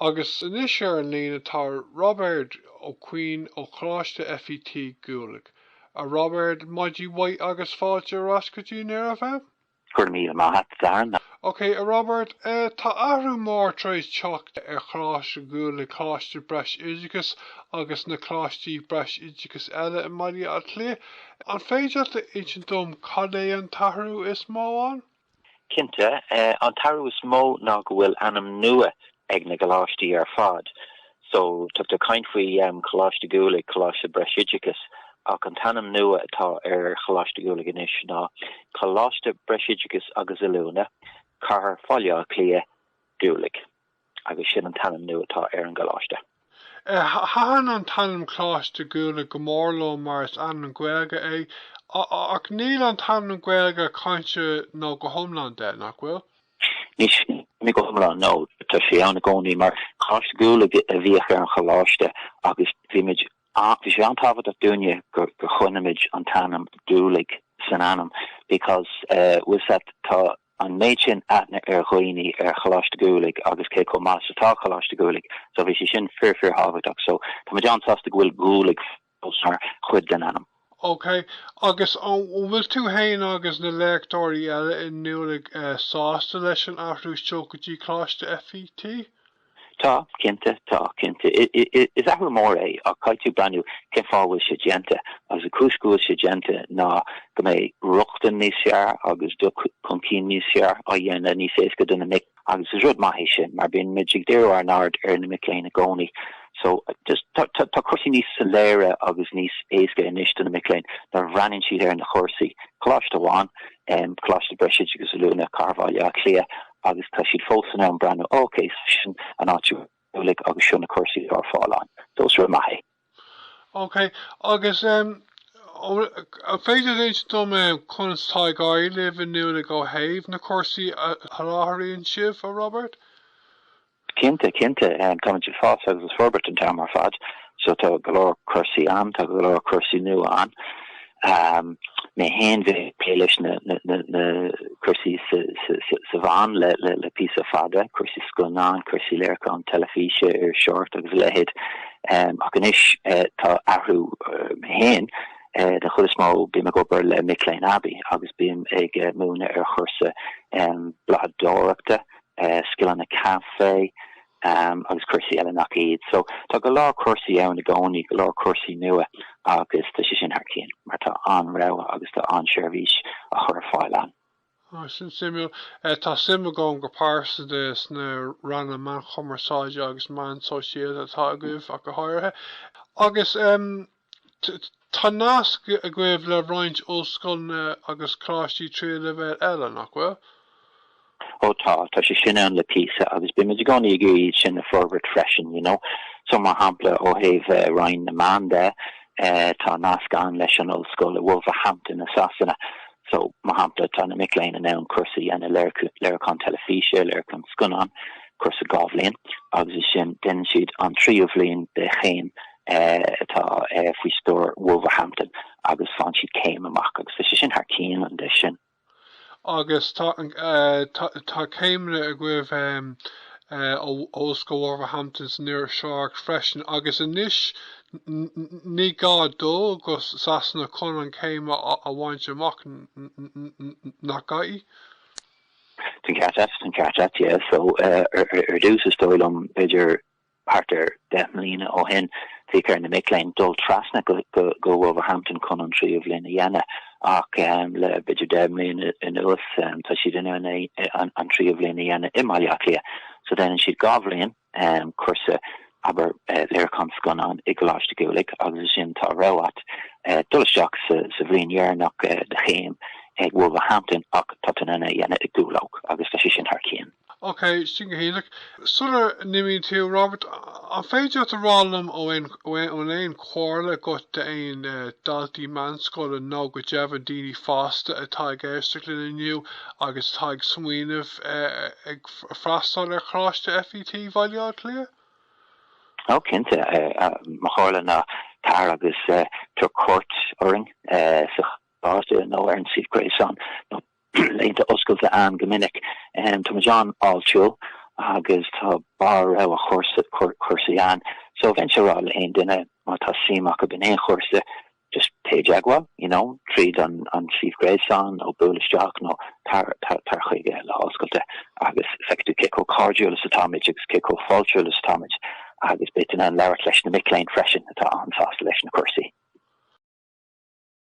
Agus anois ar an líne tá Roibeard Ó Cuinn ó Choláiste FET Dhúlaigh. A Roibeard, maidin mhaith agus fáilte ar ais go dtí Near FM. Go raibh míle maith a't, a Darren. Ok, a Roibeard, tá athrú mór tar éis teacht ar Choláiste Dhúlaigh, Coláiste Breisoideachais agus na Coláistí Breisoideachais eile i mBaile Átha Cliath. An féidir leat a insint dom cad é an t-athrú is mó ann? Cinnte, an t-athrú is mó ná go bhfuil ainm nua ag na gcoláistí ar fad. So, tá tú ag caint faoi Choláiste Dhúlaigh, Coláiste Breisoideachais, ach an t-ainm nua atá ar Choláiste Dhúlaigh anois ná Coláiste Breisoideachais agus Oiliúna, Cathair Bhaile Átha Cliath, Dúlaigh. Agus sin an t-ainm nua atá ar an gcoláiste. Thaitin an t-ainm Coláiste Dhúlaigh go mór liom mar is ainm Gaeilge é. Ach níl an t-ainm Gaeilge caillte go hiomlán de, nach bhfuil? Níl sé go hiomlán, no. Tá sé ann i gcónaí mar Coláiste Dhúlaigh a bhíodh ar an choláiste agus bhí muid, bhí sé an-tábhachtach dúinne gur choinnigh muid an t-ainm Dúlaigh san ainm because with that tá, an méid sin aithne ar dhaoine ar Choláiste Dhúlaigh agus cé chomh maith is atá Coláiste Dhúlaigh so bhí sé sin fíor fíor thábhachtach so tá muid an-sásta go bhfuil Dhúlaigh fós mar chuid den ainm. OK, agus an bhfuil tú fhéin agus na léachtóirí eile i nDúlaigh sásta leis an athrú seo go dtí Coláiste FET? Tá, cinnte, tá, cinnte. Is athrú mór é ach caithfidh tú breathnú cén fáth a bhfuil sé déanta. Agus an chúis go bhfuil sé déanta ná go mbeidh rochtain níos fearr agus dul chun cinn níos fearr a dhéanamh níos éasca do na mic agus is rud maith é sin mar bíonn muid ag díriú ár n-aird ar na mic léinn i gcónaí. So, just, tá cúrsaí níos soiléire agus níos éasca anois do na mic léinn nuair a bhreathnaíonn siad ar na cúrsaí. Coláiste amháin, em, Coláiste Breisoideachais Oiliúna, Cathair Bhaile Átha Cliath, Agus tá siad fós in ann breathnú, OK, sin an áit i nDúlaigh agus seo na cúrsaí atá ar fáil ann. So is rud maith é. OK, agus an féidir a insint dom conas atá ag éirí libh i nDúlaigh ó thaobh na cúrsaí a sholáthraíonn sibh, a Robert? Cinnte, cinnte, táimid ag fás agus ag forbairt an t-am ar fad so tá go leor cúrsaí ann, tá go leor cúrsaí nua ann. Mé féin, bhí mé ag plé leis na cúrsaí sna meáin le píosa fada, cúrsaí scannáin, cúrsaí léiriúcháin teilifíse ar Shord agus a leithéid. Ach anois tá athrú, mé féin, den chuid is mó bím ag obair le mic léinn aibí agus bím ag múineadh ar chúrsa blagadóireachta, scileanna caife agus cúrsaí eile nach iad. So tá go leor cúrsaí ann i gcónaí, go leor cúrsaí nua agus tá sé sin thar cionn mar tá an-rogha agus tá an-seirbhís á chur ar fáil ann. Sin suimiúil. Tá suim agam go pearsanta sna ranna meánchumarsáide agus meán sóisialta atá agaibh ach go háirithe. Agus Tá nasc agaibh le roinnt ollscoileanna agus coláistí tríú leibhéal eile, nach bhfuil? Ó tá, tá sé sin ann le píosa agus bímid i gcónaí ag iarraidh iad sin a fhorbairt freisin, you know. So, mar shampla, ó thaobh Roinn na Meán de, tá nasc ann leis an ollscoil i Wolverhampton i Sasana. So, mar shampla, tá na mic léinn in ann cúrsa a dhéanamh léiriúchán teilifíse, léiriúchán scannán, cúrsa dhá bhliain, agus ansin déanann siad an tríú bhliain de chéim atá faoi stiúir Wolverhampton agus faigheann siad céim amach agus tá sé sin thar cionn. An-deas sin. Agus tá tá céimeanna agaibh em ó Ollscoil Wolverhampton san iriseoireacht freisin agus anois ní gá dul go Sasana chun an chéim a bhaint amach nach gá? Tá'n ceart a't, tá'n ceart a't yeah so ar dtús is dóigh liom b'fhéidir Thart ar deich mbliana ó shin bhíodh ar na mic léinn dul trasna go Wolverhampton chun an tríú bhliain a dhéanamh ach le b'fhéidir deich mbliana anuas tá siad in ann an tríú bhliain a dhéanamh i mBaile Átha Cliath. So déanann siad dhá bhliain, cúrsa abair léiriúchán scannán i gColáiste Dhúlaigh agus ansin tá rogha a't dul isteach sa bhliain deireanach de chéim ag Wolverhampton ach tá tú in ann é a dhéanamh i gCúlóg agus tá sé sin thar cionn. OK, sin go hiontach. Sula n-imíonn tú, Robert, an féidir leat a rá liom an bhfuil aon chomhairle agat d'aon daltaí meánscoile nó go deimhin daoine fásta atá ag éisteacht linn inniu agus atá ag smaoineamh ag freastal ar Choláiste FET Bhaile Átha Cliath? Ó, cinnte. Mo chomhairle ná tar agus tabhair cuairt orainn sa choláiste nó ar an suíomh gréasáin nó Laethanta oscailte a'ainn go minic. Tá muid an-fháiltiúil agus tá barr rogha cúrsaí a'ainn. So bheinnse a' rá le haon duine má tá suim acub in aon chúrsa, just téigh i dteagmháil, you know, tríd an suíomh gréasáin nó buail isteach nó tar chuig lá oscailte agus feicfidh tú cé chomh cairdiúil is atá muid agus cé chomh fáiltiúil is atá muid agus beidh tú in ann labhairt leis na mic léinn freisin atá an-sásta leis na cúrsaí.